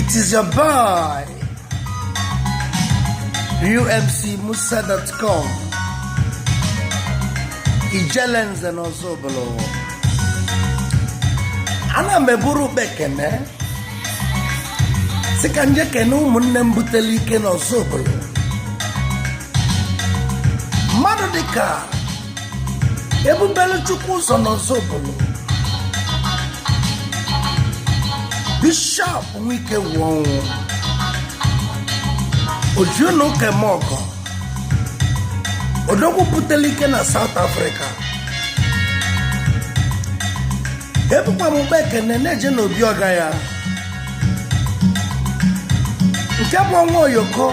It is your boy, umcmusa.com. Ijele nze n'Ọzụbụlụ. Ana m eburu ụkpa ekene sị ka m je kene ụmụnne m buteli ike n'Ọzụbụlụ. Mmadụ dịka ebubelu chukwu ụzọ n'Ọzụbụlụ bishọp nwa Ikegwuọnụ oji ụnọ ụka eme ọgọ odogwu butere ike na South Africa ebukwa m ụkpa ekene na-eje n'obi ọga ya nke bụ ọnwa oyoko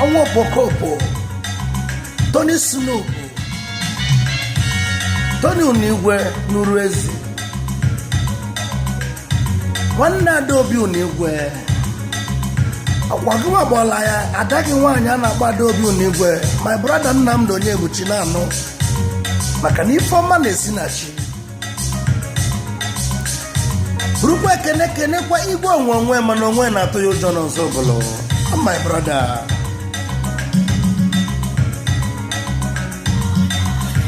ọnwa okpokokpo Tony Snoop Tony Unigwe nụrụ ezi nwanne Adaobi Unigwe ọkwa gị nwa gbọla ya ada gị nwaanyị a na-akpọ Adaobi Unigwe my brother Nnamdi Onyebuchi na-anụ maka na ife ọma na-esi na chi burukwa ekene kenekwa igwe onwe onwe mana onwe na-atụ ya ụjọ n'Ọzụbụlụ Oh, my brother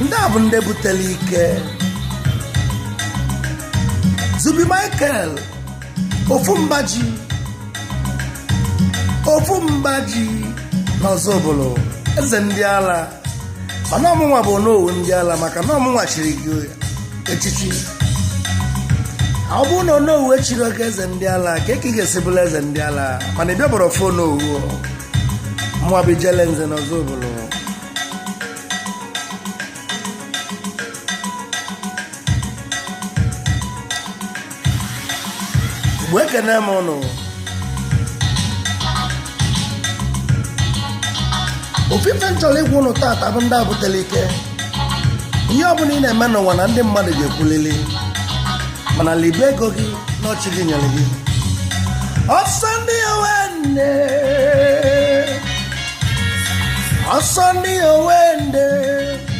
ndị a bụ ndị butere ike Zubby Michael ofu mbaji ofu mbaji n'Ọzụbụlụ eze ndị ala mana ọ mụnwa bụ onowu ndị ala maka na ọ mụnwa chiri gị echichi ọ bụrụ na onowu echirọ gị eze ndị ala kee ka ị ga-esi bụrụ eze ndị ala mana ị bịaberọ fụ onowu mụwa bụ ijele nze na Ọzụbụlụ mgbe ekene m ụnụ ofu ife m chọrọ ịgwa ụnụ tata bụ ndị a buteli ike ihe ọbụla ị na-eme n'ụwa na ndị mmadụ ga-ekwulili mana libe ego gị na ọ chi gị nyere gị ọsọ ndị owe ndị ọsọ ndị owe ndị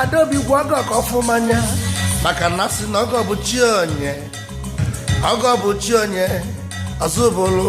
adaobi gwa ọgọ ka ọ fụ m anya maka na a sị na ọgọ bụ chi onye ọgọ bụ chi onye Ọzụbụlụ